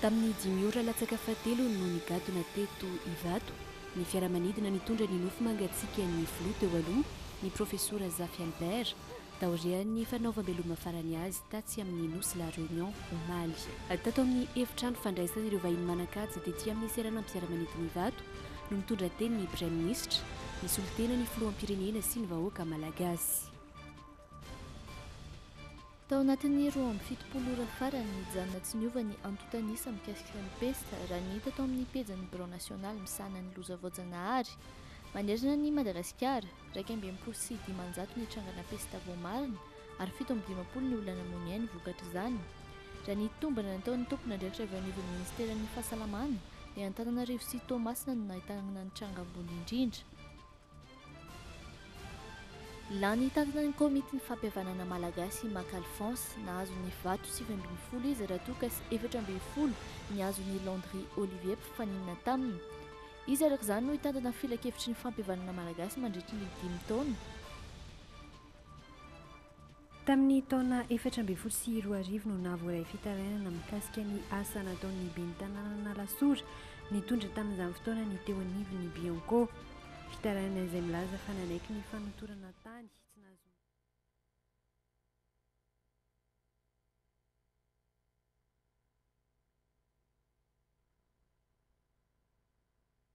Tamin'ny dimy ora latsaka fahatelo no nigadona teto Ivato ny fiaramanidina nitondra ny nofo mangatsiakan'ny filoha teo aloha, ny profesora Zafy Albert, taorian'ny fanaovam-beloma farany azy tatsy amin'ny Nosy La Réunion, omaly. Tato amin'ny efitrano fandraisan'ireo vahiny manan-kaja tety amin'ny seranam-piaramanidina Ivato no nitondra teny ny praiminisitra, nisolo tena ny filoham-pirenena sy ny vahoaka malagasy. Tao anatin'ny roa amby fitopolo ora farany, nijanona tsy niova ny antontan'isa mikasika ny pesta, raha ny hita tao amin'ny pejin'ny Birao nasionaly misahana ny loza voajanahary. Manerana an'i Madagasikara, iraika amby enimpolo sy dimanjato ny trangana pesta voamarina, ary fito amby dimampolo ny olona namoniainy vokatr'izany, raha ny tombana nataon'ny tompon'andraikitra avy ao anivon'ny minisiteran'ny Fahasalamana. Ny Antananarivo sy Toamasina no nahitana ny tranga ambony indrindra. Lany takina ny Komitin'ny Fampihavanana Malagasy i Maka Alphonse. Nahazo ny vato sivy ambin'ny folo izy raha toa ka sy efatra ambin'ny folo ny azon' i Landry Olivier mpifaninana taminy. Izy araka izany no hitantana filankevitry ny fampihavanana malagasy mandritry ny dimy taona. Tamin'ny taona efatra ambin'ny folo sy roa arivo no nahavoaray fitarainana mikasika ny asa nataon'ny ben'ny tanànan'Alasora nitondra tamin'izany fotoana ny teo anivon'ny Bianco. Fitarainana izay milaza fa nanaiky ny fanotorana tany tsy nahazoana.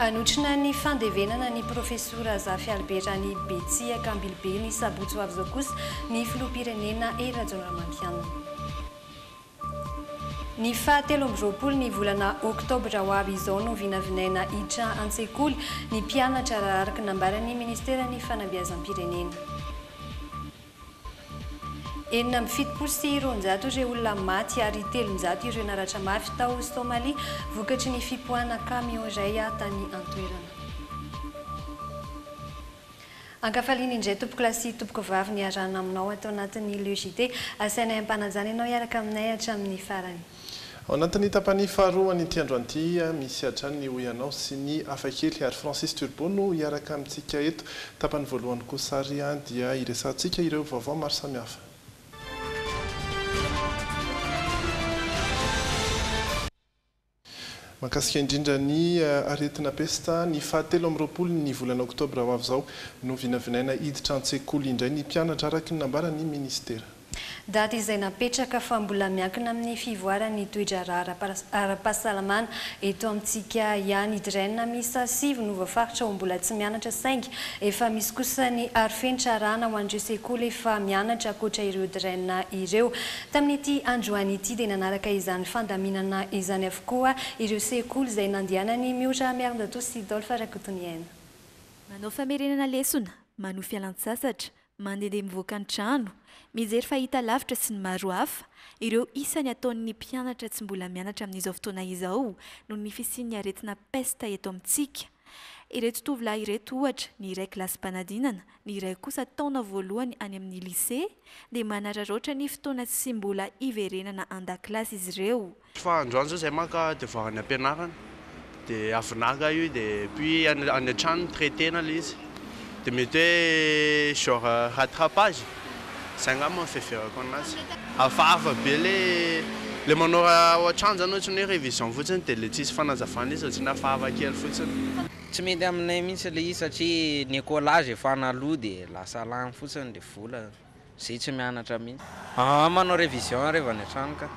Hanotrona ny fandevenana ny Profesora Zafy Albert any Betsiaka Ambilobe ny sabotsy ho avy izao kosa ny Filoham-pirenena Hery Rajaonarimampianina. Ny faha telo amby roapolo ny volana oktobra ho avy izao no vinavinaina hiditra an-tsekoly ny mpianatra raha araka ny nambaran'ny Ministeran'ny Fanabeazam-pirenena. Enina amby fitopolo sy roanjato ireo olona maty ary telonjato ireo naratra mafy tao Somalia vokatry ny fipoahana kamiao iray tany an-toerana. Ankafaliana indray tompokolahy sy tompokovavy niarahana aminao ato anatin'ny Le JT. Asainay ampanajana ianao hiaraka aminay hatramin'ny farany. Ao anatin'ny tapany faharoa an'ity andro anty, misy hatrany ny hoy anao sy ny hafakely ary Francis Turbo no hiaraka amintsika eto. Tapany voalohany kosa ary dia hiresahantsika ireo vaovao maro samihafa. Mahakasika indrindra ny aretina pesta, ny fahatelo amby roapolo ny volana oktobra ho avy izao no vinavinaina hiditra an-tsekoly indray ny mpianatra araka ny nambaran'ny minisitera. Daty izay napetraka fa mbola miankina amin'ny fivoaran'ny toe-draharaha ara-pahasalamana eto amintsika ihany. I Dren miisa sivy no voafaritra ho mbola tsy mianatra saingy efa misy kosa ny arofenitra arahana ho an'ireo sekoly efa mianatra ankoatra ireo Dren ireo. Tamin'ity androany ity dia nanaraka izany fandaminana izany avokoa ireo sekoly izay nandehanan'i Miora Miarinjatoa sy Dolph Rakotoniaina. Manao famerenana lesona, manohy fialantsasatra, Mandehandeha mivoaka ny trano, mijery fahitalavitra sy ny maro hafa, ireo isany ataon'ny mpianatra tsy mbola mianatra amin'izao fotoana izao noho ny fisian'ny aretina pesta eto amintsika. Ireto tovolahy ireto ohatra, ny iray kilasim-panadinana, ny iray kosa taona voalohany any amin'ny Lycée dia manararaotra ny fotoana tsy mbola hiverenana an-dakilasy izy ireo. Fa androany zao zay maka de vao any ampianarana de avy naka io de puis any any an-trano traiter na le izy de mety hoe genre rattrapage zay angamba no fiheverako anazy. Hafahafa be le le manao raha ao an-trano zany ohatrany hoe révision fotsiny de le tsisy fanazavana izy ohatrany hafahafa kely fotsiny. Tsy mety aminay mihitsy le izy satria ny écolage efa an'aloha de lasa lany fotsiny le vola. Zay tsy mianatra mihintsy. Aa manao revision reva any an-trano ka.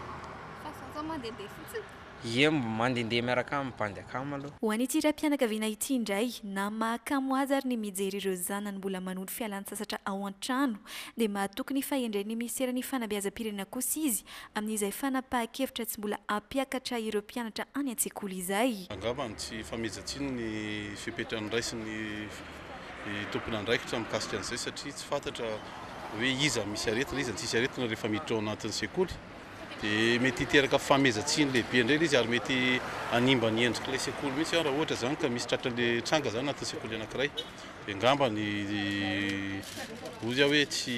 Fa za zao mandehandeha fotsiny. Ie mba mandehandeha miaraka amin'ny bandy akama aloha. Ho an'ity raim-pianakaviana ity indray, na mahakamo azy ary ny mijery ireo zanany mbola manondro fialantsasatra ao an-trano, dia mahatoky ny fahendren'ny Minisiteran'ny Fanabeazam-pirenena kosa izy amin'izay fanapahan-kevitra tsy mbola hampiakatra ireo mpianatra any an-tsekoly izay. Angamba tsy fameja-tsiny ny fepetra niraisin'ny. ny tompon'andraikitra mikasika an'izay satria tsy fantatra hoe iza misy aretina, iza tsisy aretina rehefa miditra ao anatin'ny sekoly dia mety hiteraka famezatsiny lehibe indray ilay izy ary mety hanimba ny endrik'ilay sekoly mihitsy raha ohatra izany ka misy tratran'ilay tranga izany anatin'ny sekoly anankiray dia ngamba ny hoy aho hoe tsy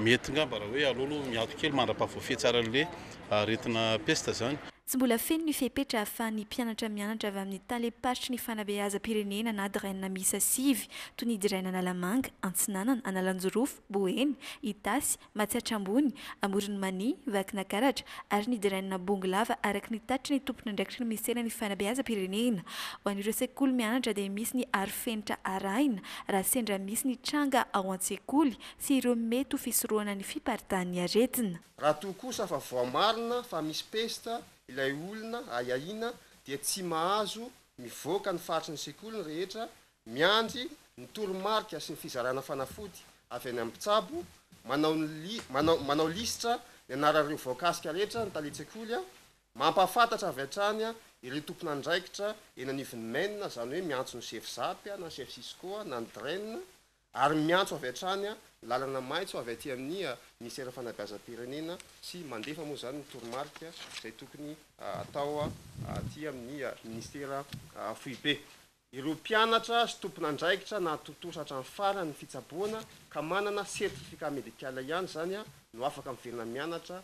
mety ngamba raha hoe aleo aloha miato kely mandra-pahavoafehy tsara an'ilay aretina pesta izany. Tsy mbola feno ny fepetra ahafahan'ny mpianatra mianatra avy amin'ny talem-paritry ny fanabeazam-pirenena na DRENA miisa sivy, toy ny DRENA Analamanga, Antsinanana, Analanjirofo, Boeny, Itasy, Matsiatra Ambony, Amoron'i Mania, Vakinakaratra, ary ny DRENA Bongolava araka ny tatitry ny tompon'andraikitry ny minisiteran'ny fanabeazam-pirenena. Ho an'ireo sekoly mianatra dia misy ny arofenitra arahina raha sendra misy ny tranga ao an-tsekoly sy ireo mety ho fisorohana ny fiparitahan'ny aretina. Raha toa kosa fa voamarina fa misy pesta ilay olona ahiahiana dia tsy mahazo mivoaka ny faritry ny sekoly ny rehetra, miandry ny toromarika sy ny fizarana fanafody avy any amin'ny mpitsabo, manao ny li, manao, manao lisitra ny anaran'ireo voakasika rehetra ny talen-tsekoly, mampahafantatra avy hatrany ireo tompon'andraikitra eny anivon'ny maine, izany hoe miantso ny chef Zap na ny chef Cisco na ny DREN, ary miantso avy hatrany lalana maitso avy aty amin'ny Minisiteran'ny Fanabeazam-pirenena sy mandefa moa izany ny toromarika izay tokony atao aty amin'ny Minisitera foibe. Ireo mpianatra sy tompon'andraikitra nahatontosa hatramin'ny farany ny fitsaboana ka manana certificat médical ihany izany no afaka miverina mianatra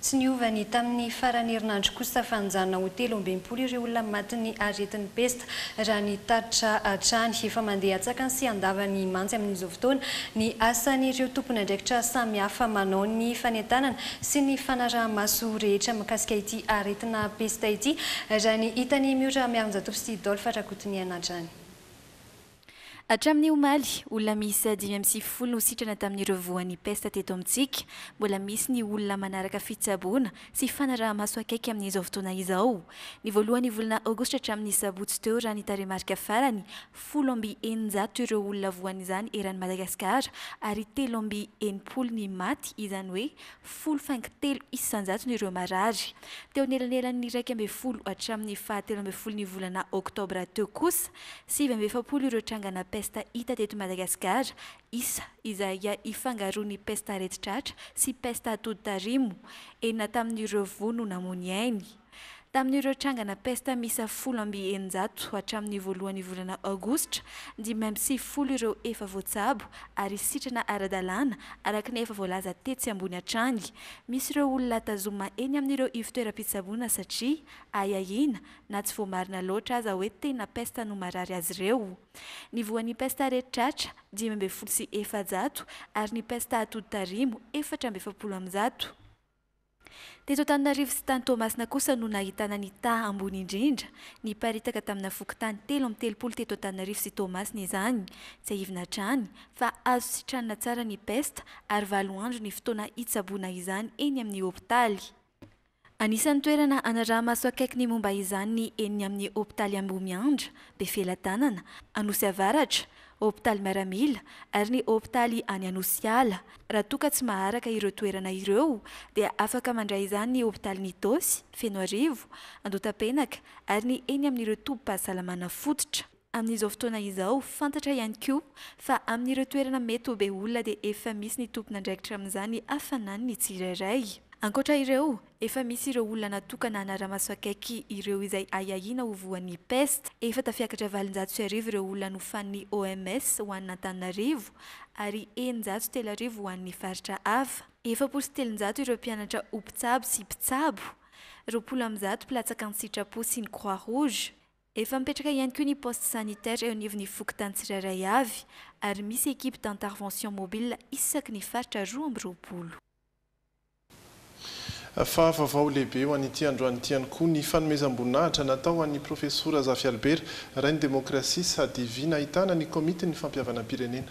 Tsy niova ny tamin'ny faran'ny herinandro kosa fa nijanona ho telo amby enimpolo ireo olona matin'ny aretin'ny pesta, raha ny tatitra hatrany. Efa mandeha an-tsakany sy an-davany mantsy amin'izao fotoana ny asan'ireo tompon'andraikitra samihafa manao ny fanentanana sy ny fanaraha-maso rehetra mikasika ity aretina pesta ity, raha ny hitan'i Miora Miarinjatovo sy Dolph Rakotoniaina hatrany. Hatramin'ny omaly, olona miisa dimy amby sivifolo no sitrana tamin'ireo voan'ny pesta teto amintsika. Mbola misy ny olona manaraka fitsaboana sy fanaraha-maso akaiky amin'izao fotoana izao. Ny voalohan'ny volana aogositra hatramin'ny sabotsy teo raha ny tarehimarika farany, folo amby eninjato ireo olona voan'izany eran'i Madagasikara ary telo amby enimpolo ny maty, izany hoe folo faingo telo isan-jatony ireo marary. Teo anelanelan'ny iraika ambin'ny folo hatramin'ny fahatelo ambin'ny folon'ny volana oktobra teo kosa, Sivy amby efapolo ireo trangana pesta hita teto Madagasikara, isa izay ifangaroan'ny pesta aretin-tratra sy pesta atody tarimo. Enina tamin'ireo voa no namoy ny ainy. Tamin'ireo trangana pesta miisa folo amby eninjato hatramin'ny voalohan'ny volana aogositra, dimy amby sivifolo ireo efa voatsabo ary sitrana ara-dalàna, araka ny efa voalaza tetsy ambony hatrany. Misy ireo olona tazoma eny amin'ireo ivo-toeram-pitsaboana satria ahiahiana na tsy voamarina loatra aza hoe tena pesta no marary azy ireo. Ny voan'ny pesta aretin-tratra, dimy ambin'ny folo sy efajato, ary ny pesta atodi-tarimo, efatra amby efapolo amin'ny zato. Teto Antananarivo sy tany Toamasina kosa no nahitana ny taha ambony indrindra. Niparitaka tamina fokontany telo amby telopolo teto Antananarivo sy Toamasina izany. Tsiahivina hatrany, fa azo sitranina tsara ny pesta, ary valo andro ny fotoana hitsaboana izany eny amin'ny hopitaly. Anisan'ny toerana hanaraha-maso akaiky ny momba izany ny eny amin'ny hopitaly Ambohimiandra, Befelatanana, Anosy Avaratra, hopitaly miaramila ary ny hopitaly any Anosiala. Raha toa ka tsy maharaka ireo toerana ireo dia afaka mandray izany ny hopitalin'Itaosy, Fenoarivo, Andotapenaka ary ny eny amin'ireo tobim-pahasalamana fototra. Amin'izao fotoana izao, fantatra ihany koa fa amin'ireo toerana mety ho be olona dia efa misy ny tompon'andraikitra amin'izany hafanany ny tsirairay. Ankoatra ireo, efa misy ireo olona natokana hanara-maso akaiky ireo izay ahiahiana ho voan'ny pesta. Efa tafiakatra valonjato sy arivo ireo olona nofanin'ny OMS ho an'Antananarivo ary eninjato sy telo arivo ho an'ny faritra hafa. Efapolo sy telonjato ireo mpianatra ho mpitsabo sy mpitsabo, roapolo amby zato mpilatsaka an-tsitrapo sy ny Croix Rouge, Efa mipetraka ihany koa ny poste sanitaire eo anivon'ny fokontany tsirairay avy ary misy equipe d'intervention mobile isaky ny faritra roa amby roapolo. Fahavavao lehibe ho an'ity androany ity ihany koa ny fanomezam-boninahitra natao ho an'i Profesora Zafy Albert, Rain'ny Demokrasia, Sadv, nahitana ny Komitin'ny Fampihavanam-pirenena.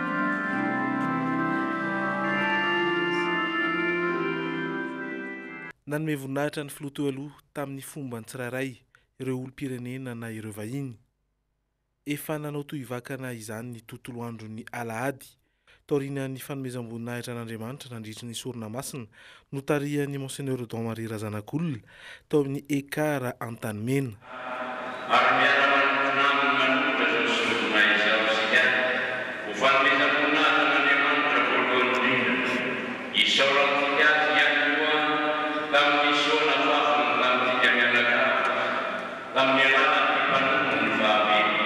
Nanome voninahitra ny Filoha teo aloha tamin'ny fomba ny tsirairay, ireo olom-pirenena na ireo vahiny. Efa nanao tohivakana izany ny tontolo andron'ny alahady, taorian'ny fanomezam-boninahitra an'Andriamanitra nandritry ny sorona masina notarihan'i Monseigneur Odon Marie Razanakolona tao amin'ny Ekar Antanimena. Ary miara-manompo aminy manontolo izao sombinay izao isika, ho fanomezam-boninahitra an'Andriamanitra voalohany indrindra. Isaorantsika Azy ihany koa tamin'ny soa nafafiny tamintsika mianakavy, tamin'ny alalan'ny mpanompony fahavelo.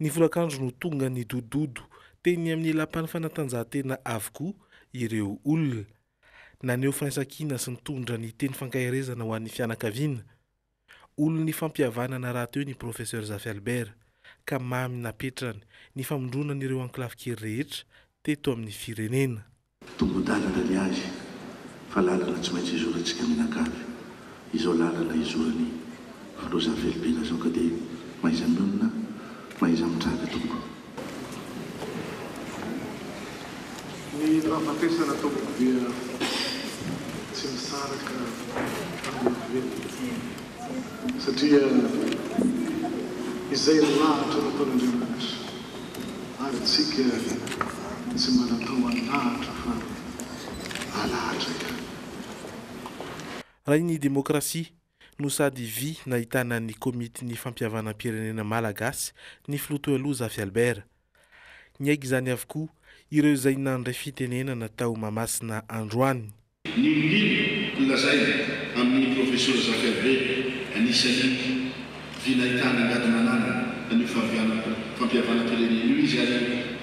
Ny folakandro no tonga nidododo teny amin'ny lapan'ny fanatanjahantena avokoa ireo olona. Naneho firaisankina sy nitondra ny teny fankaherezana ho an'ny fianakaviana. Olon'ny fampihavanana rahateo ny Professeur Zafy Albert ka mamy napetrany ny famondronan'ireo ankilafikely rehetra teto amin'ny firenena. Tombo-dalana ny azy fa lalana tsy maintsy izorantsika mianakavy izao lalana izoran'ny filoha Zafelibena zao ka dia mahaiza mionona mahaiza mitraka tompoko. Ny fahafatesana tompoko dia tsy misaraka amin'ny olombelona. Satria izay lahatra nataon'Andriamanitra, ary isika tsy mba natao halahatra fa halahatra ihany. Raha ny demokrasia no sady vy nahitana ny komitin'ny fampihavanam-pirenena malagasy ny filoha toaloha Zafy Albert. Niaiky izany avokoa ireo izay nandray fitenenana tao Mahamasina androany. Ny olona nolazaina amin'i Profesora Zaferbe anisan'ny vy nahitana angady manana an'io fahavianam-po fampihavanam-pirenena io izy ary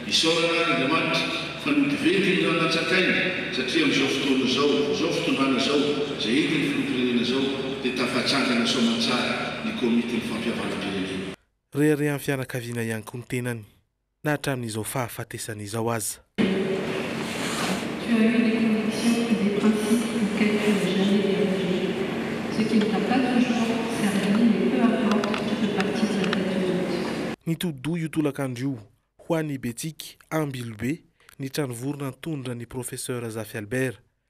isaorana ary Andriamanitra fa nody venty ny ranatsakainy satria amin'izao fotoana izao, izao fitondrana izao izay entin'ny filoham-pirenena izao dia tafatsangana soamantsara ny Komitin'ny Fampihavanam-pirenena. Reharehan'ny fianakaviana ihany koa ny tenany na hatramin'izao fahafatesana izao aza. Nitodi-doha io tolakandro io, ho an'i Betsiky Ambilobe, ny tranovorona nitondra ny Professeur Zafy Albert.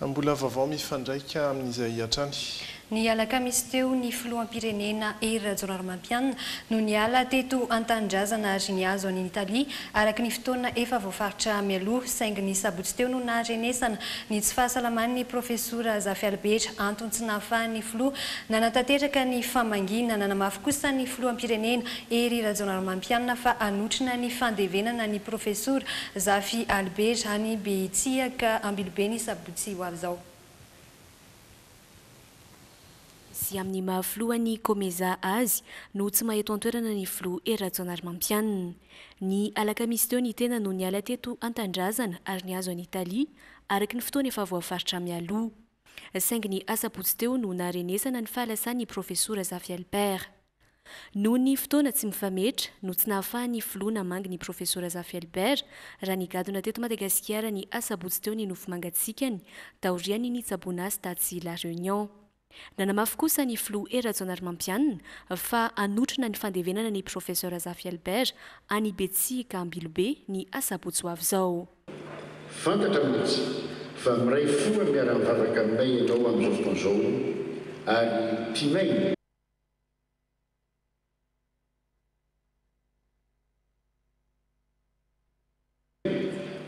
Mbola vaovao mifandraika amin'izay hatrany. Ny alakamisy teo ny filoham-pirenena Hery Rajaonarimampianina no niala teto an-tanindrazana ary nihazo an'Italia araka ny fotoana efa voafaritra mialoha, saingy ny sabotsy teo no naharenesana ny tsy fahasalaman'ny Profesora Zafialibera, antony tsy nahafahan'ny filoha nanatanteraka ny famangiana. Nanamafy kosa ny filoham-pirenena, Hery Rajaonarimampianina fa hanotrona ny fandevenana ny Profesora Zafialibera any Betsiaka Ambilobe ny sabotsy ho avy izao. sy amin'ny maha filohan'ny Comeza azy no tsy maha eto an-toerana ny filoha Hery Rajaonarimampianina. Ny alakamisy teo ny tena no niala teto an-tanindrazana ary nihazo an'i Italia araka ny fotoana efa voafaritra mialoha. Saingy ny asabotsy teo no naharenesana ny fahalasan'ny profesora Zafy Albert. Noho ny fotoana tsy mifametra no tsy nahafahan'ny filoha namangy ny Profesora Zafy Albert raha nigadona teto Madagasikara ny asabotsy teo ny nofy mangatsiakany taorian'ny nitsaboana azy tatsy La Réunion. Nanamafy kosa ny filoha Hery Rajaonarimampianina fa hanotrona ny fandevenana ny Profesora Zafy Albert any Betsiaka Ambilobe ny asabotsy ho avy izao. Fantatra mihitsy fa miray fo miara-mivavaka aminay ianao amin'izao fotoana izao ary tianay.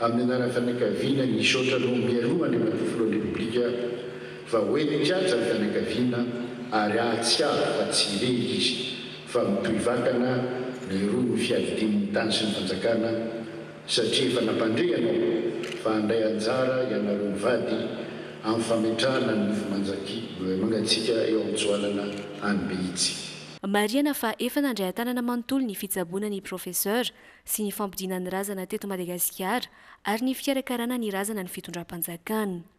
Amin'ny anaran'ny fianakaviana nisaotra anao mialoha Andriamatoa Filohan'ny Repoblika fa hoe nikatsa ny fianakaviana ary ahatsiaro fa tsy irery izy fa mitohy vakana ny rohin'ny fiadidian'ny tany sy ny fanjakana, satria efa nampandre ianao fa handray anjara ianareo mivady amin'ny fametrahana ny nofo manjaki mangatsiaka eo amin'ny joalana any Behitsy. Marihana fa efa nandray an-tanana manontolo ny fitsaboana ny Professeur sy ny fampodiana ny razana teto Madagasikara ary ny fikarakarana ny razana ny fitondram-panjakana.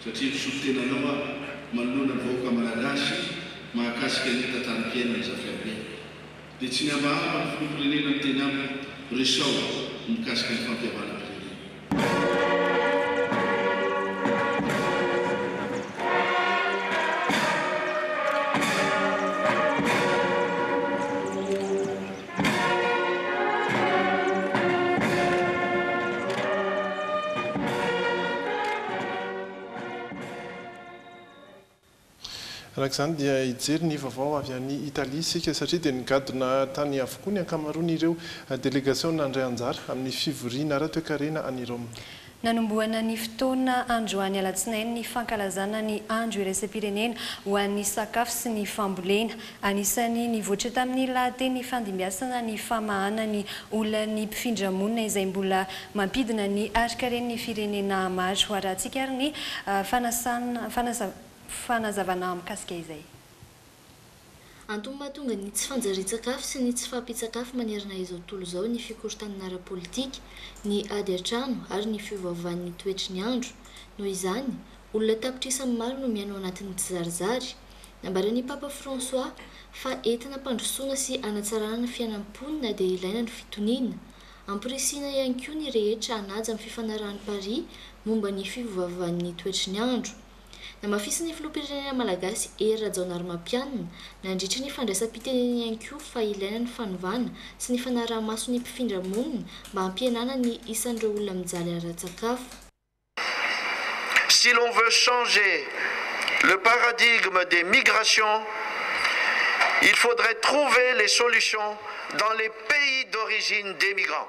Satria misolo tena anao aho manoloana ny vahoaka Malagasy mahakasika ny tantaram-piainany Zafiabe. Dia tsy niavahava ny filoham-pirenena niteny amiko resaho ny mikasika ny fampihavanam-pirenena. Araka izany dia hijery ny vaovao avy any Italia isika satria dia nigadona tany avokoa ny ankamaroan'ireo delegasiona nandray anjara amin'ny fivoriana ara-toekarena any Roma. Nanombohana ny fotoana androany alatsinainy ny fankalazana ny andro iraisam-pirenena ho an'ny sakafo sy ny fambolena. Anisan'ny nivoatra tamin'ny lahateny ifandimbiasana ny famahana ny olan'ny mpifindra monina izay mbola mampidina ny harikaren'ny firenena maro. Harahantsika ary ny fanazavana mikasika izay. Antony mahatonga ny tsy fanjarian-tsakafo sy ny tsy fahampian-tsakafo manerana izao tontolo izao ny fikorontanana ara-politika, ny ady an-trano ary ny fiovaovan'ny toetry ny andro. Noho izany, olona tapitrisa amin'ny maro no miaina ao anatin'ny tsizarizary. Nambaran'ny Papa François fa entina hampandrosoana sy hanatsarana ny fiainan'ny mponina dia ilaina ny fitoniana. Ampirisihina ihany koa ny rehetra hanaja ny fifanarahan'i Paris momba ny fiovaovan'ny toetry ny andro. Namafisin'ny Filoham-pirenena malagasy Hery Rajaonarimampianina, nandritra ny fandraisam-piteneniny ihany koa fa ilaina ny fanovana sy ny fanaraha-maso ny mpifindra monina mba hampihenana ny isan'ireo olona mijaly ara-tsakafo. Si l'on veut changer le paradigme des migrations, il faudrait trouver les solutions dans les pays d'origine des migrants.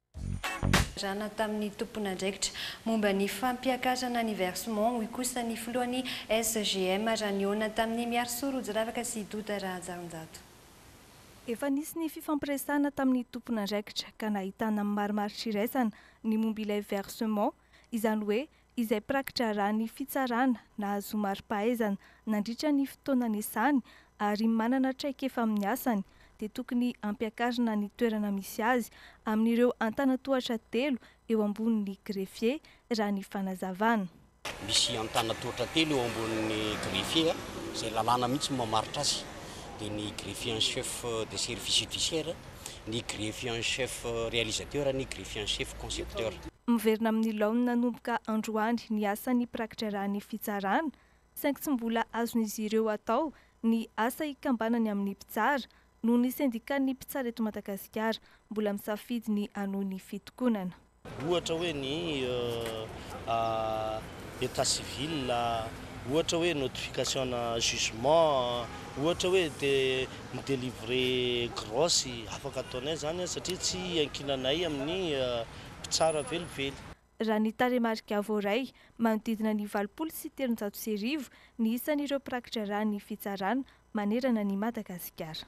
Rana tamin'ny tompon'andraikitra momba ny fampiakarana ny versement, hoy kosa ny filohan'ny SGM raha nihaona tamin'i Miarisoa Rojiravaka sy Doda Rahajarinjato. Efa nisy ny fifampiresahana tamin'ny tompon'andraikitra ka nahitana amin'ny marimaritra iraisana ny momba ilay versement, izany hoe izay mpiraki-draharahan'ny fitsarana nahazoa mari-pahaizana nandritra ny fotoana niasany ary manana traikefa amin'ny asany dia tokony hampiakarina ny toerana misy azy amin'ireo antanatohatra telo eo ambonin'ny greffier, raha ny fanazavana. Misy antanatohatra telo eo ambonin'ny greffier, izay lalàna mihitsy no mamaritra azy, dia ny greffier en chef des services judiciaires, ny greffier en chef réalisateur, ny greffier en chef concepteur. Miverina amin'ny laoniny nanomboka androany ny asan'ny mpirakitra ra ny fitsarana, saingy tsy mbola azon'izy ireo atao ny asa hikambanany amin'ny mpitsara, noho ny sendikan'ny mpitsara eto Madagasikara mbola misafidy ny hanohy ny fitokonana. Ohatra hoe ny état civil, ohatra hoe notification-na jugement, ohatra hoe te mi-délivrer grosse, afaka ataonay izany satria tsy iankinanay amin'ny. mpitsara velively. Raha ny tarehimarika voaray, manodidina ny valopolo sy telonjato sy arivo ny isan'ireo mpirakidraharahan'ny fitsarana manerana an'i Madagasikara.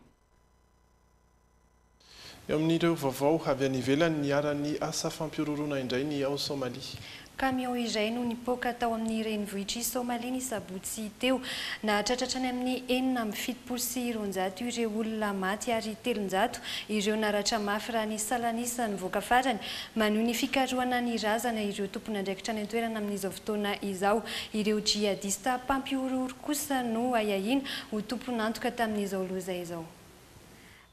Eo amin'ireo vaovao avy any ivelany, niharan'ny asa fampihorohoroana indray ny ao Somalia. Kamiao iray no nipoaka tao amin'ny renivohitr'i Somalia ny sabotsy teo. Nahatratra hatrany amin'ny enina amby fitopolo sy roanjato ireo olona maty ary telonjato ireo naratra mafy raha ny salan'isa nivoaka farany. Manohy ny fikarohana ny razana ireo tompon'andraikitra any an-toerana amin'izao fotoana izao. Ireo jihadista mpampihorohoro kosa no ahiahiana ho tompon'antoka tamin'izao loza izao.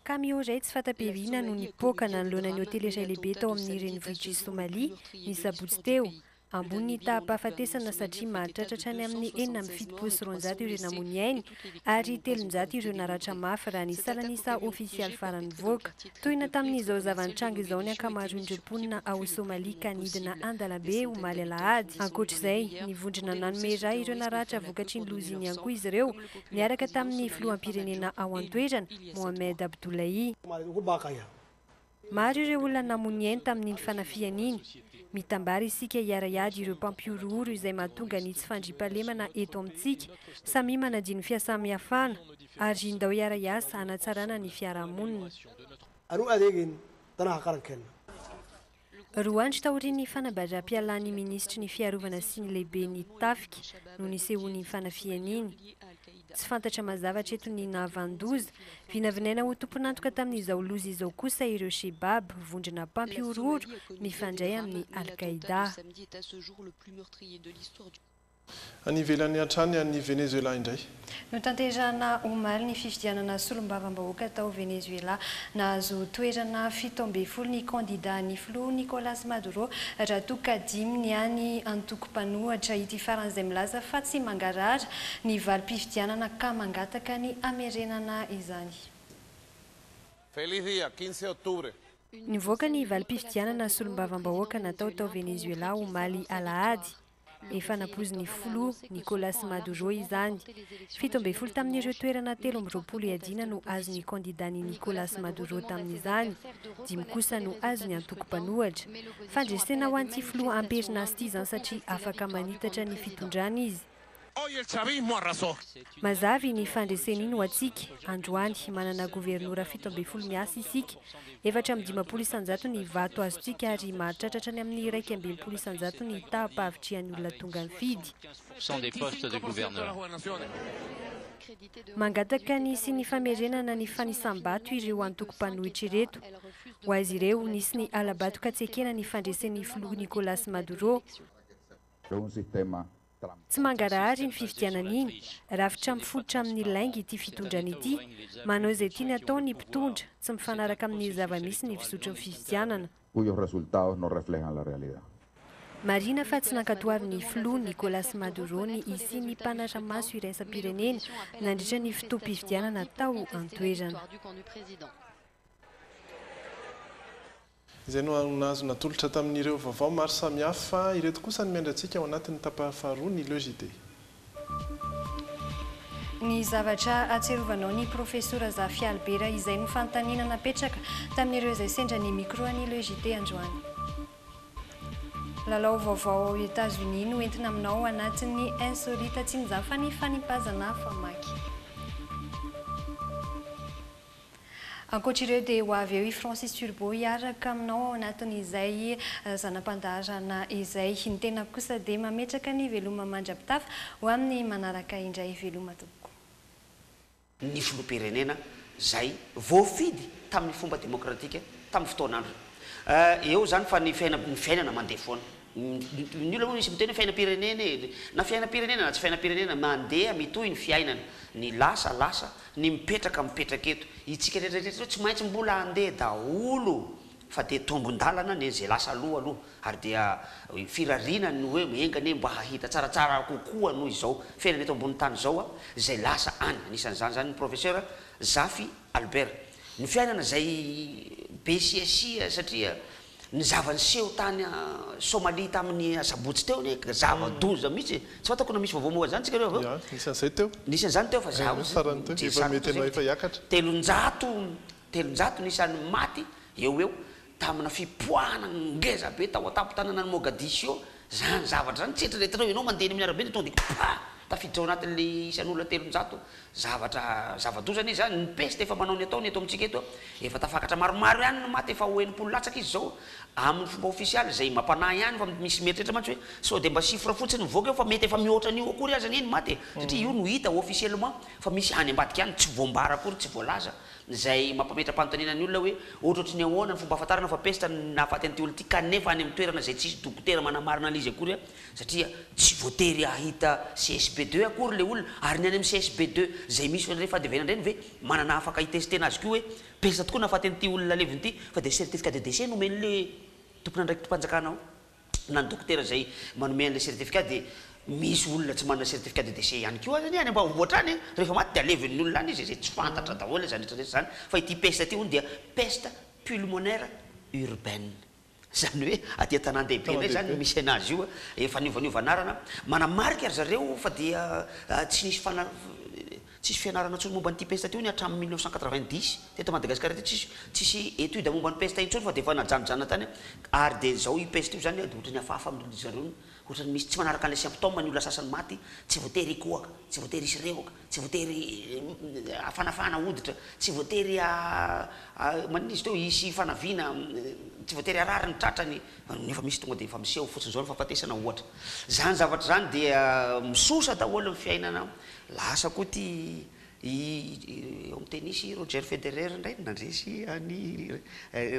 Camion iray tsy fanta-piriana no nipoaka nanoloana ny hotely iray lehibe tao amin'ny renivohitr'i Somalia, ny sabotsy teo. Ambony ny taham-pahafatesana satria mahatratra hatrany amin'ny enina amby fitopolo sy roanjato ireo namoy ny ainy ary telonjato ireo naratra mafy raha ny salan'isa ofisialy farany nivoaka. Tohina tamin'izao zava-nitranga izao ny ankamaroan'ireo mponina ao Somalia ka nidina an-dalambe omaly alahady. Ankoatra izay, ny vondrona nanome ra ireo naratra vokatry ny loza iny ihany koa izy ireo niaraka tamin'ny filoham-pirenena ao an-toerana, Mohamed Abdullahi. Maro ireo olona namono ainy tamin'iny fanafihana iny. Mitambara isika hiara-hiady ireo mpampihorohoro izay mahatonga ny tsy fandriampahalemana eto amintsika. Samia manadio ny fiasamihafana, ary ndao hiara-hiasa hanatsarana ny fiarahamonina. Roa andro taorian'ny fanabazam-pialan'ny minisitry ny Fiarovana sy ny lehiben'ny tafika no nisehoan'iny fanafihana iny. Tsy fantatra mazava hatreto ny nahavanon-doza. Vinavinaina ho tompon'antoka tamin'izao loza izao kosa ireo Shebab, vondrona mpampihorohoro mifandray amin'ny Al-Qaeda. Any ivelany hatrany any Venezuela indray. Notanterahina omaly ny fifidianana solombavambahoaka tao Venezuela. Nahazo toerana fito ambin'ny folo ny kandida an'ny filoha Nicolas Maduro raha toa ka dimy ny any antoko mpanohatra ity farany izay milaza fa tsy mangarahara ny valim-pifidianana ka mangataka ny hamerenana izany. Feliz dia quince octubre. Nivoaka ny valim-pifidianana solombavambahoaka natao tao Venezuela omaly alahady. Efa napoizin'ny filoha Nicolas Maduro izany. Fito ambin'ny folo tamin'ireo toerana telo amby roapolo iadiana no azon'ny kandidà ny Nicolas Maduro tamin'izany, dimy kosa no azon'ny antoko mpanohatra. Fandresena ho an'ity filoha amperinasa ity izany satria afaka manitatra ny fitondrana izy. Mazava iny fandresen'iny ho antsika. Androany, manana governora fito ambin'ny folo miasa isika. Efatra amby dimampolo isan-jato ny vato azontsika ary mahatratra hatrany amin'ny iraika amby enimpolo isan-jato ny taham-pahavitrihan'ny olona tonga nifidy. Mangataka ny sy ny famerenana ny fanisam-bato ireo antoko mpanohitra ireto. Ho azy ireo, nisy ny hala-bato ka tsy ekena ny fandresen'ny filoha Nicolas Maduro. Tsy mangarahara iny fifidianana iny, rafitra mifototra amin'ny lainga ity fitondrana ity, manao izay tiany atao ny mpitondra, tsy mifanaraka amin'ny zava-misy ny fizotry ny fifidianana. Marina fa tsy nankatoavin'ny filoha Nicolas Maduro ny hisian'ny mpanara-maso iraisam-pirenena nandritra ny fotoam-pifidianana tao an-toerana. Izay no nahazo natolotra tamin'ireo vaovao maro samihafa. Ireto kosa ny miandry antsika ao anatin'ny tapany faharoa ny Le JT. Ny zavatra ahatsiarovanao ny Profesora Zafy Albert izay no fanontaniana napetraka tamin'ireo izay sendra ny micro ny Le JT androany. Lalao vaovao ao Etazonia no entina aminao ao anatin'ny Insolita Tsinjafany Fanipazana famaky. Ankoatra ireo dia ho avy eo i Francis Turbo hiaraka aminao ao anatin'izay zana-pandaharana izay. Ny tenako kosa dia mametraka ny veloma mandra-pitafa ho amin'ny manaraka indray. Veloma tompoko. ny filoham-pirenena izay voafidy tamin'ny fomba demokratika tamin'ny fotoan'androny. Eo izany fa ny fiainana mandeha foana. Ny olona moa misy miteny hoe fiainam-pirenena e! Na fiainam-pirenena na tsy fiainam-pirenena, mandeha mitohy ny fiainana. Ny lasa, lasa. Ny mipetraka, mipetraka eto. Itsika rehetrarehetra eto tsy maintsy mbola handeha daholo fa dia tombon-dalana anie izay lasa aloha aloha ary dia firariana ny hoe enga anie mba hahita tsaratsara kokoa noho izao fiainana eto ambonin'ny tany izao a! izay lasa any. Anisan'izany izany ny Professeur Zafy Albert. Ny fiainana izay be siasia satria. Ny zava-niseho tany Somalia tamin'ny asabotsy teo anie ka zava-doza mihitsy e! Tsy fantako na misy vaovao momba izany tsika reo avy eo? Anisan'izay teo. Nisy an'izany teo fa za hozy mijery telonjato telonjato ny isan'ny maty eo ho eo tamina fipoahana ngeza be tao an-tampon-tananan'i Mogadiscio. Zany zavatra zany tsetra rehetra ianao mandeha eny amin'ny arabe de tonga de pa! tafiditra ao anatin'le isan'olona telonjato zavatra zava-doza anie zany, ny peste efa manao ny ataony eto amintsika eto efa tafakatra maromaro ihany ny maty efa ho enimpolo latsaka izy zao amin'ny fomba ofisialy zay mampanahy ihany fa misy mieritreritra mantsy hoe sao de mba chiffre fotsiny mivoaka eo fa mety efa mihoatra an'io akory aza anie ny maty e satria io no hita officiellement fa misy any ambadika any tsy voambara akory tsy voalaza Izay mampametra-panontaniana ny olona hoe ohatrohatry ny ahoana ny fomba ahafantarana fa pesta ny nahafaty an'ity olona ity kanefa any amin'ny toerana izay tsy hisy dokotera manamarina an'izy akory an, satria tsy voatery hahita CSB deux akory ilay olona, ary ny any amin'ny CSB deux izay misy ireny fandevenana ireny ve manana afaka hitestena azy koa hoe pesta tokoa nahafaty an'ity olona levona ity fa dia certificat de décès no omen'ilay tompon'andraikitim-panjakana ao. na ny dokotera izay manome an'ilay certificat dia misy olona tsy manana certificat de décès ihany koa azany any ambanivohitra any an! rehefa maty dia aleven'ny olona any izy izay tsy fantatra daholo izany rehetra rehetra izany fa ity peste ity hono dia peste pulmonaire urbaine izany hoe aty an-tanàn-dehibe indray izany no misy an'azy io efa niovaniova anarana manamarika ry zareo fa dia tsy nisy fana Tsisy fianarana intsony momba an'ity pesta ity hono hatramin'ny mille neuf cent quatre-vingt-dix. Teto Madagasikara teto tsisy tsisy étude momba ny pesta intsony fa dia efa najanojanona tany ary dia izao io pesta io izany dia ohatran'ny hafahafa amin'ireo zareo ny ohatran'ny misy tsy manaraka an'ilay symptôme ny olona sasany maty tsy voatery hikohaka, tsy voatery hisy rehoka, tsy voatery hafanafana hoditra, tsy voatery ha ha maninona izy teo hisy fanaviana, tsy voatery harary ny tratrany, nefa misy tonga dia efa miseho fotsiny izao ny fahafatesana ohatra. Izany zavatra izany dia misosa daholo ny fiainana Lasa koa ity i eo amin'ny tennis i Roger Federer indray no nandresy an'i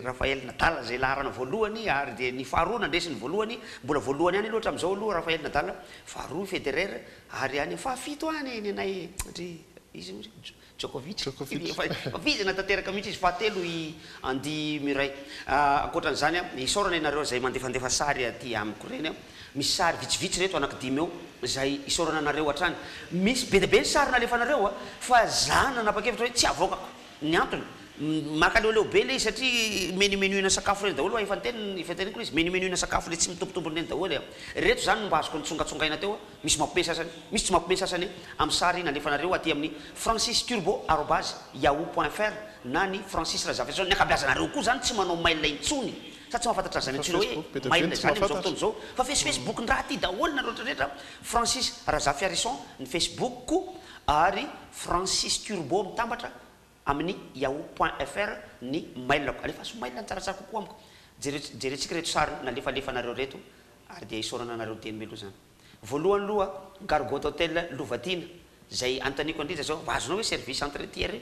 Rafael Nadal izay laharana voalohany ary dia ny faharoa nandresy ny voalohany, mbola voalohany ihany aloha hatramin'izao aloha Rafael Nadal, faharoa i Federer ary any amin'ny fahafito any ny anay ry izy ry Djokovic, efa vizana tanteraka mihitsy izy, fahatelo i Andy Murray. Ankoatra an'izany, isaorana ianareo izay mandefandefa sary aty amiko ireny. Misy sary vitsivitsy ireto anaky dimy eo izay isaorana anareo hatrany. Misy be dia be ny sary nalefanareo a! fa za nanapa-kevitra hoe tsy havoakako. Ny antony, makaleoleo be ilay izy satria menu-menuina sakafo ireny daholo, efa niteny, efa teneniko ilay izy, menu-menuina sakafo ilay tsy mitombontombony ireny daholo e! Ireto izany no mba azoko nitsongatsongaina teo, misy mampme sasany, misy tsy mampme sasany amin'ny sary nalefanareo aty amin'ny francisturbo arobase yahoo point fr na ny Francis Razafinson. Ny ankabeazanareo koa izany tsy manao mail intsony Sa tsy mahafantatra an'izany intsony hoe mailina izany amin'izao fotoana izao? Fa face Facebook ndraha tia daholo nareo retraretra, Francis Razafiarison ny Facebook ko ary Francis Turbo mitambatra amin'ny yahoo point fr ny mailako. Alefaso mail ny tsaratsara kokoa amiko. Jereo jerentsika reto sary nalefalefanareo reto ary dia isaorana anareo dieny meloa izany. Voalohany loha Gargot Hotel Lovatiana, izay anontaniako an'Rija zao, mba azonao ve service entretien re?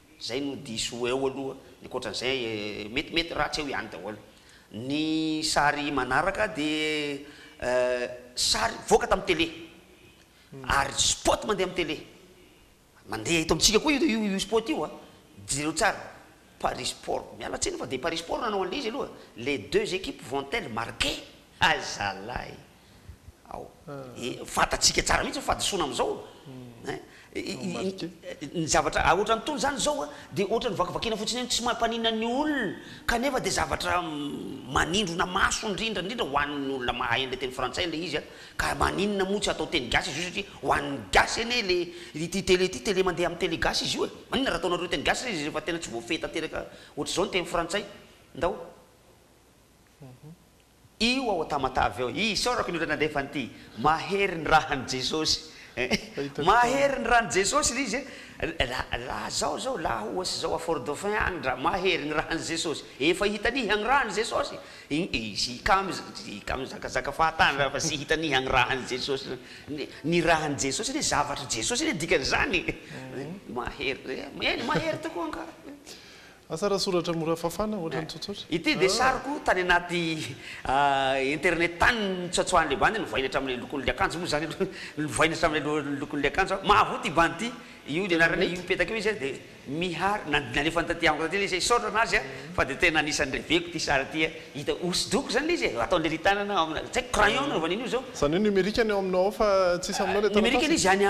Zay no diso ho eo aloha, ny ankoatran'izay metimety ratsy eo ihany daholo. Ny sary manaraka dia sary nivoaka tamin'ny tele ary spot mandeha amin'ny tele. Mandeha eto amintsika koa io io spot io a. Jereo tsara, Paris Sport, miala tsiny fa dia Paris Sport no nanao an'ilay izy aloha, les deux equipes vont-elles marquer? Hay zalahy! ao. Fantatsika tsara mihitsy ny fahadisoana amin'izao eh. Ny zavatra ohatran'ny tony izany izao a, dia ohatran'ny vakivakina fotsiny eny, tsy mampaninona ny olona, kanefa dia zavatra manindrona maso indrindra indrindra ho an'ny olona mahay an'ilay teny frantsay ilay izy a. Ka maninona moa tsy atao teny gasy izy io satria ho an'ny gasy anie le, ity tele ity, tele mandeha amin'ny tele gasy izy io e. Maninona raha ataonareo teny gasy izy rehefa tena tsy voafehy tanteraka ohatr'izao ny teny frantsay? Ndao. Io ao Tamatave eo. Isaorako ny olona nandefa an'ity. Mahery ny rahan'i Jesosy. Mahery ny ran'i Jesosy ilay izy e. La zao zao la ohatsy zao à Fort Dauphin any ndra mahery ny rahan'i Jesosy. Efa hita niha ny rahan'i Jesosy. I kamo i kamo zakazaka fahatany raha efa tsy hita niha ny rahan'i Jesosy. Ny rahan'i Jesosy anie zavatr'i Jesosy anie dikan'izany e. Mahery. Eny mahery tokoa angaha. Asa raha soratra mora fafana, ohatra ny tsotsotra. Ity dia sariko tany anaty internet tany nitsoatsoahan'ilay bandy novaina hatramin'ilay lokon'ilay akanjo moa izany aloha novaina hatramin'ilay lokon'ilay akanjo aho. Mahavoa ity bandy ity. Io ny anarana io mipetaka eo izy dia Mihary, nalefany taty amiko taty ilay izy, hisaotra an'azy aho fa dia tena anisan'ny reveko ity sary ity a! Hita hosodoko izany ilay izy e! Ataon'ny ry tanana ao amina, tsy haiko crayon no nanaovany an'io izao. Izany hoe numérique ny ao aminao ao fa tsisy aminao ilay taratasy? Numérique ilay izy any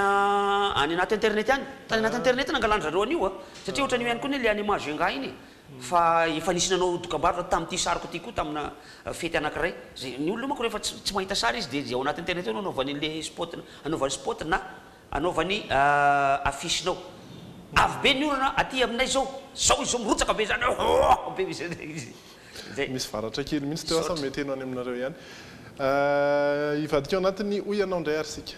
anaty internet any, tany anaty internet nangalan-dry zareo an'io a! Satria ohatran'io ihany koa anie le anima Jenga iny e! Fa efa nisy nanao dokambarotra tamin'ity sariko ity koa tamina fety anakiray. Ze, ny olona manko rehefa tsy tsy mahita sary izy dia ze ao anaty internet ao no anaovany an'le spot anaovany spot na anaovany affiche-nao. Avo be ny orana aty aminay zao! Zao izy zao mirotsaka be zany ooh! Be izy zay. Misy varatra kely mihitsy teo asa mety heno any aminareo ihany. Ahh hivadika ao anatiny hoy ianao indray ary isika.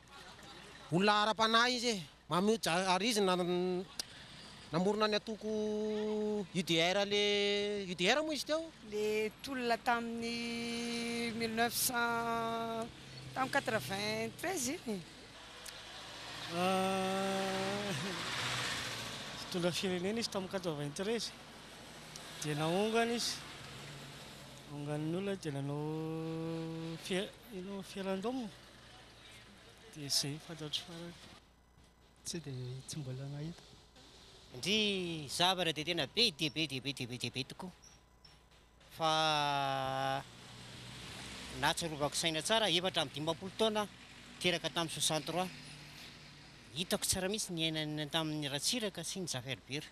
Olona ara-panahy izy e. Mahmoud Jariz namorona ny antoko UDR le UDR moa izy teo? Le tolona tamin'ny mille neuf cent tamin'ny quatre vingt treize iny e. Nitondra firenena izy tamin'ny quatre vingt treize dia nahongana izy, nahongana ny olona dia nanao fi- ino, referendum. Dia izay no fantatro farany fa tsy dia tsy mbola nahita. Ndry zavatra dia tena be dia be dia be dia be dia be tokoa fa nahatsiarovako saina tsara efatra amby dimampolo taona aho teraka tamin'ny soixante trois hitako tsara mihitsy niainany tamin'ny Ratsiraka sy ny Jaferbera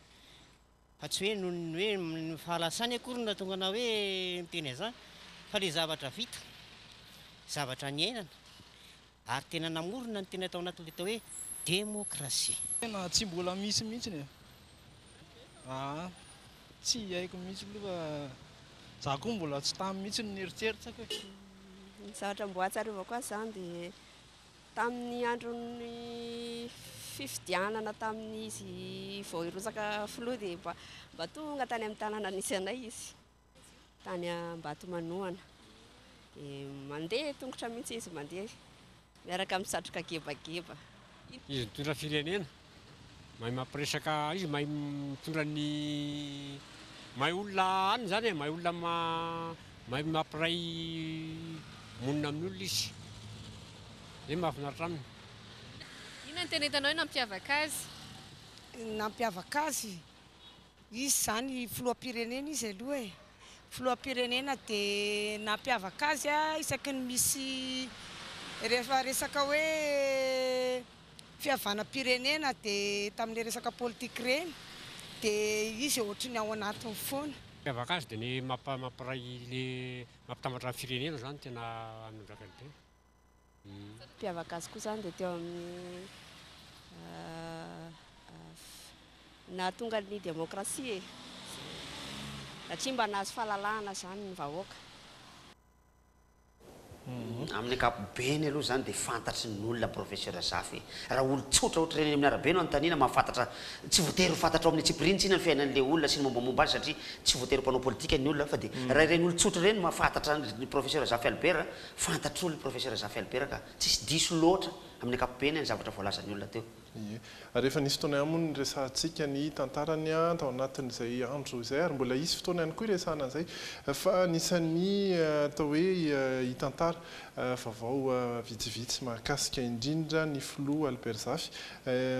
Fa tsy hoe noho ny hoe ny fahalasany akory no nahatonga anao hoe miteny an'izany fa ilay zavatra vita, zavatra niainana ary tena namorona ny tena tao anatin'ilay atao hoe demokrasia. Tena tsy mbola misy mihitsy e! aa! tsy haiko mihitsy aloha fa za koa mbola tsy tamy mihitsy no nieritreritra ko e! Ny zavatra mbola ahatsiarovako azy izany dia Tamin'ny andron'ny fifidianana tamin'izy vao hirotsaka filoha dia mba mba tonga tany amin'ny tanàna nisy anay izy tany Ambatomanohana dia mandeha tongotra mihitsy izy mandeha miaraka amin'ny satroka gebageba. Izy nitondra firenena Mahay mampiresaka izy mahay mitondra ny mahay olona any zany e, mahay olona mahay mampiray monina amin'ny olona izy, zay mahafinaritra aminy. Inona no tena hitanao hoe nampiavaka azy? Nampiavaka azy? Izy izany filoham-pirenena izy aloha e! Filoham-pirenena dia nampiavaka azy isaky ny misy rehefa resaka hoe fihavanam-pirenena dia tamin'ilay resaka politika ireny dia izy ohatry ny ao anatiny foana. Mampiavaka azy dia ny mampiray ilay mampitambatra ny firenena izany no tena anondrakany be. Ny mpiavaka azy koa izany dia teo amin'ny nahatonga ny demokrasia e! satria mba nahazo fahalalahana izany ny vahoaka. Amin'ny ankapobeny aloha izany dia fantatry ny olona Professeur Zafy hoe raha olon-tsotra ohatr'ireny eny amin'ny arabe no anontaniana mahafantatra, tsy voatery ho fantatrao amin'ny antsipiriany-tsina ny fiainan'ilay olona sy ny mombamomba azy satria tsy voatery mpanao politika ny olona fa dia raha ireny olon-tsotra ireny no mahafantatra an'i Professeur Zafy Albert, Fantatr'olona i Profesera Zafy Albert ka tsisy diso loatra amin'ny ankapobeny ny zavatra voalazan'ny olona teo. Ie. Ary efa nisy fotoana ihany moa ny niresahantsika ny tantarany tao anatin'izay andro izay ary mbola hisy fotoana ihany koa hiresahana an'izay fa anisan'ny atao hoe hitantara vaovao vitsivitsy mahakasika indrindra ny Filoha Albert Zafy.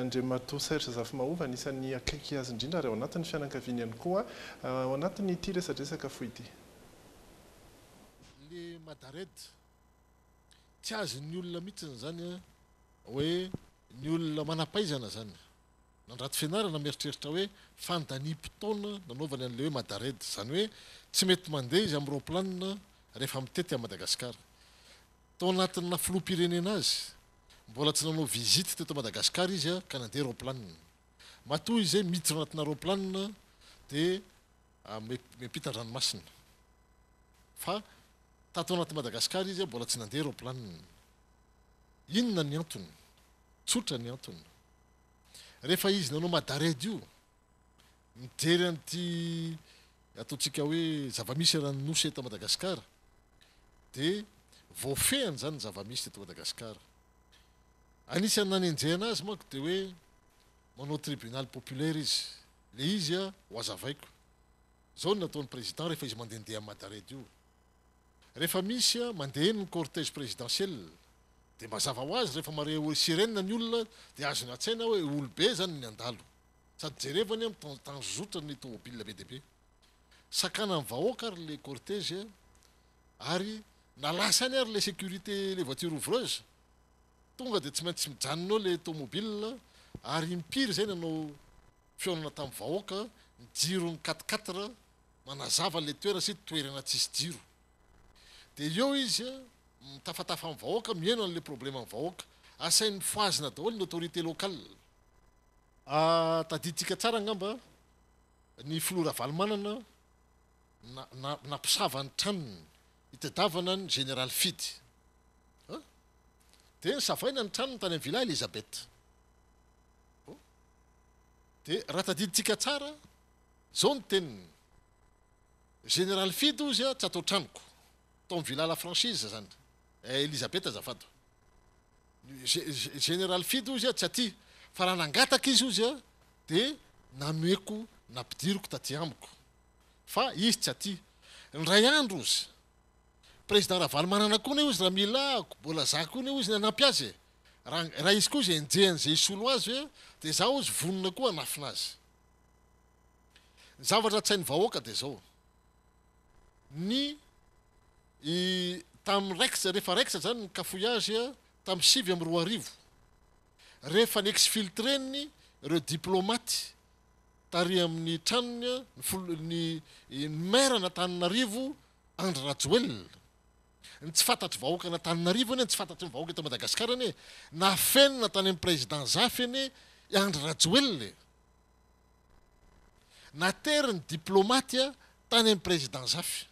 Andriamatoa Serge Zafimahova anisan'ny akaiky azy indrindra ary ao anatin'ny fianankaviany ihany koa ao anatin'ity resadresaka fohy ity. le madared tsy azon'ny olona mihitsy izany a hoe ny olona manampaizana zany nandrato fianarana mieritreritra hoe fandaniam-potoana nanaovany an'le hoe madared izany hoe tsy mety mandeha izy amin'ny raoplanina rehefa mitety an'i Madagasikara tao anatin'ny filoham-pirenena azy mbola tsy nanao visite teto Madagasikara izy a ka nandeha raoplanina matoa izay miditra anatina raoplanina dia Mety miampita an-dranomasina. Fa tato anaty Madagascar izy mbola tsy nandeha roplaniny. Inona ny antony? Tsotra ny antony. Rehefa izy nanao Madared io, mijery an'ity ataontsika hoe zava-misy eran'ny nosy eto Madagascar, dia voafehiny izany ny zava-misy teto Madagascar. Anisan'ny nanenjehana azy manko dia hoe manao tribunal populaire izy. Le izy a ho azavaiko. Zao no nataony président rehefa izy mandendeha am Madared io. Rehefa misy a mandeha eny ny cortège présidentiel de mazava ho azy rehefa mare oe sirène ny olona de azony atsaina oe olo be zany ny andalo. Sady jerevany am tan tanzotra ny tomobile be de be. Sakana am vahoaka ary le cortège ary na lasa any ary le sécurité le voiture ouvreuse Tonga dia tsy maintsy mijanona eo ilay tomobilina ary impiry izay nanao fihaonana tamin'ny vahoaka ny jiron'ny quatre quatre manazava ilay toerana sy toerana tsisy jiro. Dia eo izy mitafatafa amin'ny vahoaka mihaino an'ilay probleman'ny vahoaka. Asainy mifohazina daholo ny autorité locale. Tadidintsika tsara angamba ny filoha Ravalomanana nampisava ny tranony Itadiavana ny Général Fidy an! Dia nosavaina ny tranony tany amin'ny Villa Elisabeth. Oh! Dia raha tadidintsika tsara, izao ny teniny, Général Fidy hozy an, tsy atao tranoko. Tao amin'ny Villa La Franchise izany. Eh, Elisabeth azafady o! Ny Général Fidy hozy an, tsy aty, fa raha nangataka izy hozy an, dia nanoeko, nampidiriko taty amiko. Fa izy tsy aty. Indray andro ozy. Président Ravalomanana koa ne ozy raha mila ko bola za koa ne ozy ny hanampy azy e. Raha raha izy koa ozy enjehany ze hisolo azy ve de za ozy vonona koa hanafina azy. Ny zavatra tsy hain'ny vahoaka de zao. Ny i tam raikitra refa raikitra zany ny cafouillage tam sivy amby roa arivo. Refa ni exfiltreny reo diplomates tary amin'ny tranony ny maire an'Antananarivo Andry Rajoelina. Ny tsy fantatr'i vahoaka an'Antananarivo anie, ny tsy fantatry ny vahoaka eto Madagasikara anie, nafenina tany amin'ny président Zafy anie i Andry Rajoelina e! Nateriny diplomaty tany amin'ny président Zafy.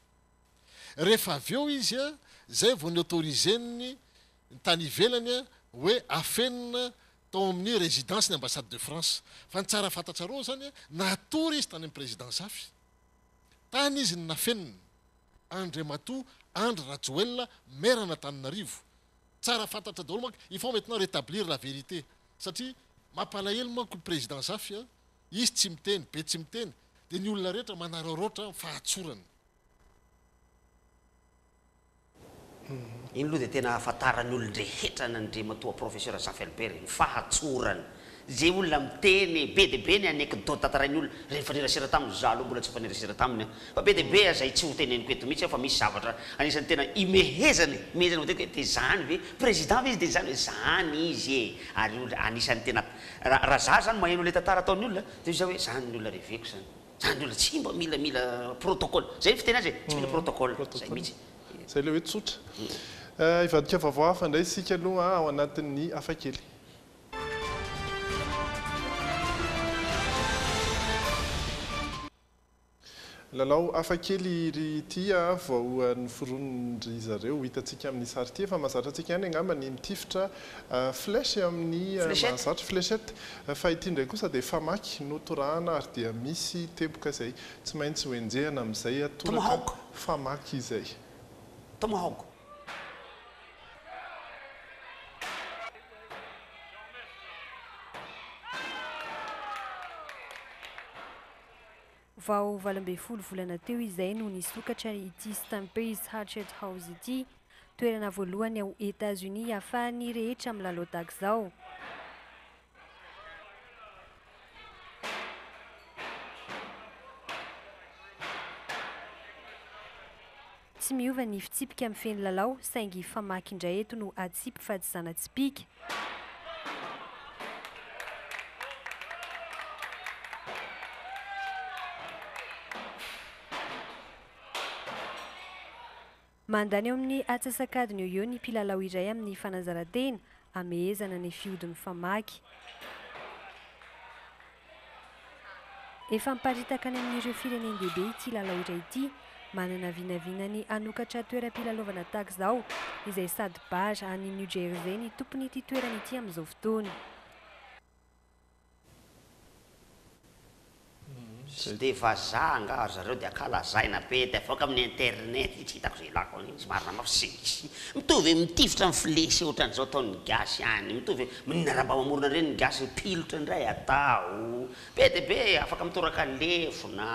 Rehefa avy eo izy zay vao ni-autoriser-n'ny tany ivelany hoe afenina tao amin'ny résidence ny ambassade de France. Fa ny tsara fantatrareo izany, natory izy tany amin'ny président Zafy. Tany izy no nafenina. Andriamatoa Andry Rajoelina, maire an'Antananarivo. Tsara fantatra daholo manko, il faut maintenant rétablir la vérité. Satria mampalahelo manko i président Zafy, izy tsy miteny, be tsy miteny, dia ny olona rehetra manaraoraotra fahatsorana. Iny aloha dia tena ahafantaran'ny olon-drehetra an' Andriamatoa Professeur Zafferberg ny fahatsorany. Izay olona miteny, be dia be ny anecdote tantarain'ny olona, raha nifanerasera taminy, izaho aloha mbola tsy nifanerasera taminy an, fa be dia be aza izay tsy ho teneniko eto mihitsy an, fa misy zavatra anisan'ny tena imehezany, imehezany matetika hoe dia izany ve, Président ve izy dia izany ve, izany izy e! ary io anisan'ny tena, raha raha izaho izany maheno ilay tantara ataon'ny olona, dia hoy izaho hoe izany ny olona reveko izany. Zany olona tsy mba mila mila protocole. Zay ny fiteny azy e, tsy mila protocole. Zay mihitsy. Zay le hoe tsotra. Hivadika vaovao hafa indray isika aloha ao anatin'ny hafakely. Lalao hafakely ry ity voaohan'ny foronindry zareo. Ho hitantsika amin'ny sary ity. Efa mahazatra antsika ihany angamba ny mitifitra Flèche amin'ny mahazatra, fléchette, fa ity indray kosa dia famaky no torahana ary dia misy teboka izay tsy maintsy hoenjehana amin'izay toraka famaky izay. Tomahawk. Vao valo ambin'ny folo volana teo izay no nisokatra ity Stampers Hatchet House ity, Toerana voalohany ao Etats-Unis iafahan'ny rehetra milalao dagzao. Tsy miova ny fitsipika mifehy ny lalao saingy famaky indray eto no atsipy fa tsy zana-tsipìka. Mandany eo amin'ny atsasak'adiny eo ho eo ny mpilalao iray amin'ny fanazaran-tena hamehezana ny fihodin'ny famaky. Efa miparitaka any amin'ireo firenen-dehibe ity lalao iray ity. Manana vinavina ny hanokatra toeram-pilalaovana tahaka izao, izay sady bar any New Jersey ny tompon'ity toerana ity amin'izao fotoana. Tsy dia vazaha angaha ry zareo dia ka lazaina be dia avoaka amin'ny internet, tsy hitako izay ilako an'iny, tsy marina mafy tsy misy, mitovy amin'ny mitifitra ny flesy ohatran'izao ataon'ny gasy ihany, mitovy amin'iny raha mba mamorona ireny ny gasy ny pilotra indray atao be dia be afaka mitoraka lefona,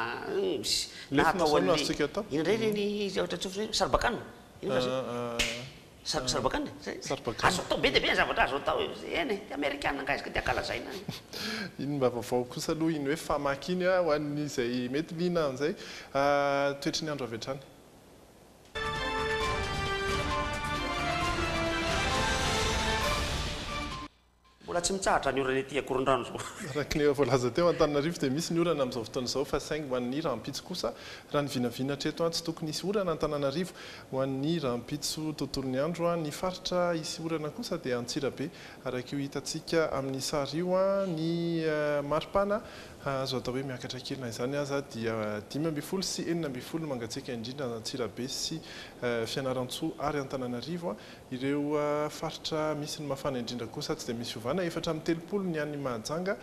na atao an'ilay, inona indray ireny zavatra atsofoka ireny, saribakanina, inona kay izay? Sar- sarbakana e, zay. Sarbakana. Azo atao be dia be ny zavatra azo atao e. Eny e, dia amerikana angaha izy ka dia ankalazaina e. Iny mba vaovao kosa aloha iny hoe famaky iny a, ho an'izay mety liana an'izay. Toetry ny andro avy hatrany. Mbola tsy mitsahatra ny orana ety Ankorondrano izao. Araka ny efa voalaza teo, Antananarivo dia misy ny orana amin'izao fotoana izao fa saingy ho an'ny rahampitso kosa, raha ny vinavina hatreto, tsy tokony hisy orana Antananarivo. Ho an'ny rahampitso tontolon'ny andro, ny faritra hisy orana kosa dia Antsirabe, araka io hitantsika amin'ny sary io. Ny maripana azo atao hoe miakatra kely na izany aza dia dimy ambin'ny folo sy enina ambin'ny folo no mangatsiaka indrindra Antsirabe sy Fianarantsoa ary Antananarivo. Ireo faritra misy ny mafana indrindra kosa tsy dia misy fiovana, efatra amby telopolo ny any Mahajanga,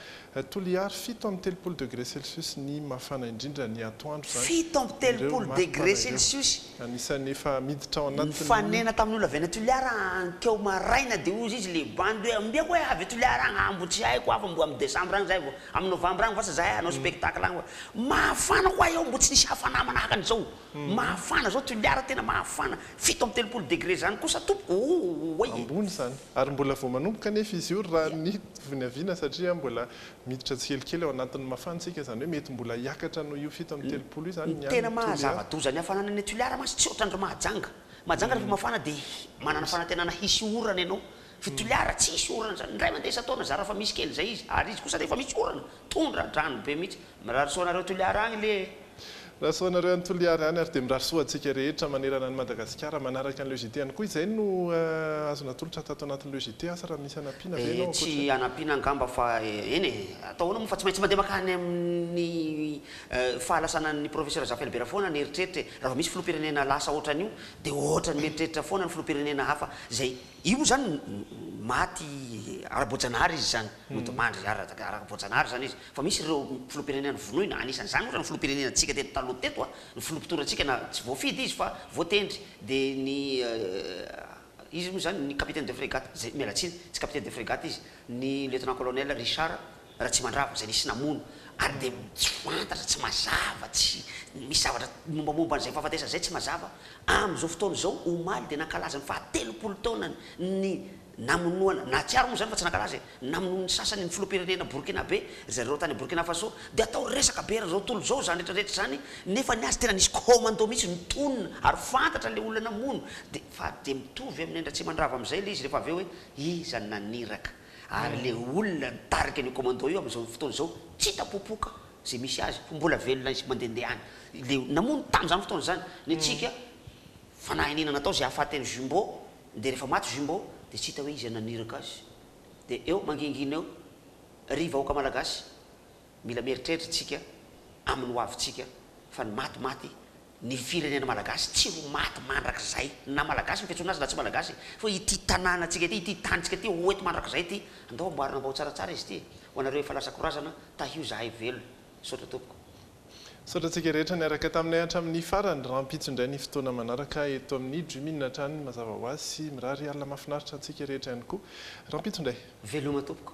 Toliary, fito amby telopolo degré celsius ny mafana indrindra ny atoandro izany. Fito amby telopolo degré celsius Anisan'ny efa miditra ao anatin'ny. Nifanena tamin'ny olona avy any Toliara hankeo maraina dia hoy izy le bandy hoe ambiako hoe avy Toliara agny aa mbo tsy haiko aa fa mbo amin'ny décembre agny zahay vao amin'ny novembre agny vasa zahay hanao spectacle agny fa mafana koa eo mbo tsy nisy hafana manahaka an'izao. Mahafana zao Toliara tena mahafana, fito amby telopolo degre zany kosa tompoko ooay e. Ambony izany. Ary mbola vao manomboka anefa izy io raha ny vinaviana satria mbola miditra tsikelikely ao anatin'ny mafana isika izany hoe mety mbola hiakatra noho io fito amby telopolo io izany ny any Toliara. Ny tena maha zava-doza ny hafanana any Toliara mantsy tsy ohatran'ireo Mahajanga. Mahajanga rehefa mafana dia manana fanantenana hisy orana ianao Fo toliara tsisy orana zany indray mandeha isan-taona zara fa misy kely zay izy ary izy kosa rehefa misy orana tondra drano be mihitsy. Mirary soa anareo toliara agny le e. Mirary soa anareo any Toliara any ary dia mirary soa antsika rehetra manerana an'i Madagasikara manaraka an'i Lejite ihany koa. Izay no azo natolotra tato anatin'ny Lejite. Asa raha misy hanampiana ve ianao ankoatra izay? Tsy hanampiana angamba fa eny e, atao ahoana moa fa tsy maintsy mandeha mankany amin'ny fahalasanan'ny Professeur Jean Felbert foana ny eritreritra e. Raha vao misy filoham-pirenena lasa ohatran'io dia ohatran'ny mieritreritra foana ny filoham-pirenena hafa izay Io moa zany maty ara-boajanahary izy zany, mody mandry ara-boajanahary zany izy. Fa misy ireo filoham-pirenena vonoina, anisan' izany ohatra ny filoham-pirenenantsika teto taloha teto a, ny filoha mpitorantsika na tsy voafidy izy fa voatendry, dia ny iza moa izany, ny capitaine de frégate, izay, miala tsiny, tsy capitaine de frégate izy, ny lieutenant colonel Richard, Ratsimandrava, izay nisy namono, ary dia tsy fantatra, tsy mazava, tsy misy zavatra mombamomba an'izay fahafatesana izay tsy mazava, amin'izao fotoana izao, omaly dia nankalaza ny faha telopolo taonany ny namonoana, nahatsiaro moa izany fa tsy nankalaza e, ny namonoan'ny sasany ny filoham-pirenena Borkinabe, ry zareo tany Borkina Faso, dia atao resaka be eran'izao tontolo izao izany rehetra rehetra izany, nefa ny azy tena nisy commando mihitsy nitonona ary fantatra ilay olona namono, dia fa dia mitovy amin'i Ratsimandrava amin'izay ilay izy rehefa avy eo hoe iza no naniraka. Ary le olona nitarika an'io commando io amin'izao fotoana izao tsy hita popoka izay misy azy fa mbola velona izy mandehandeha any. Le namono tamin'izany fotoana izany ny antsika fanahiniana natao izay hahafaty an'i Jumbo dia rehefa maty Jumbo dia tsy hita hoe iza naniraka azy. Dia eo mangingina eo ry vahoaka malagasy. Mila mieritreritra isika amin'ny ho avintsika fa ny maty maty, ny firenena malagasy tsy ho maty mandrakizay na malagasy ny fiantsoana azy na tsy malagasy fa ity tanànantsika ity, ity tanintsika ity ho eto mandrakizay ity, andao amboarina ambao tsaratsara izy ity ho anareo efa lasa korazana, tahio izahay velona. Misaotra tompoko. Misaotra antsika rehetra niaraka taminay hatramin'ny farany. Rahampitso indray ny fotoana manaraka eto amin'ny Dreaminn hatrany mazava ho azy sy mirary alina mahafinaritra antsika rehetra ihany koa. Rahampitso indray. Veloma tompoko.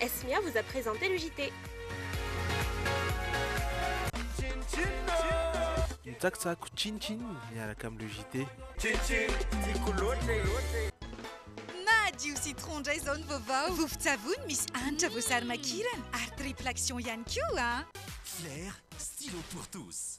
Esmia vous a presente le JT. Mitsakitsako chin chin miaraka amin'ny le JT. Chin chin tiako loatra e. Madio citron ndray zao ny vaovao. Vovon-tsavony misy hanitra voasary makirana ary triple action ihany koa an. Claire, stylo pour tous.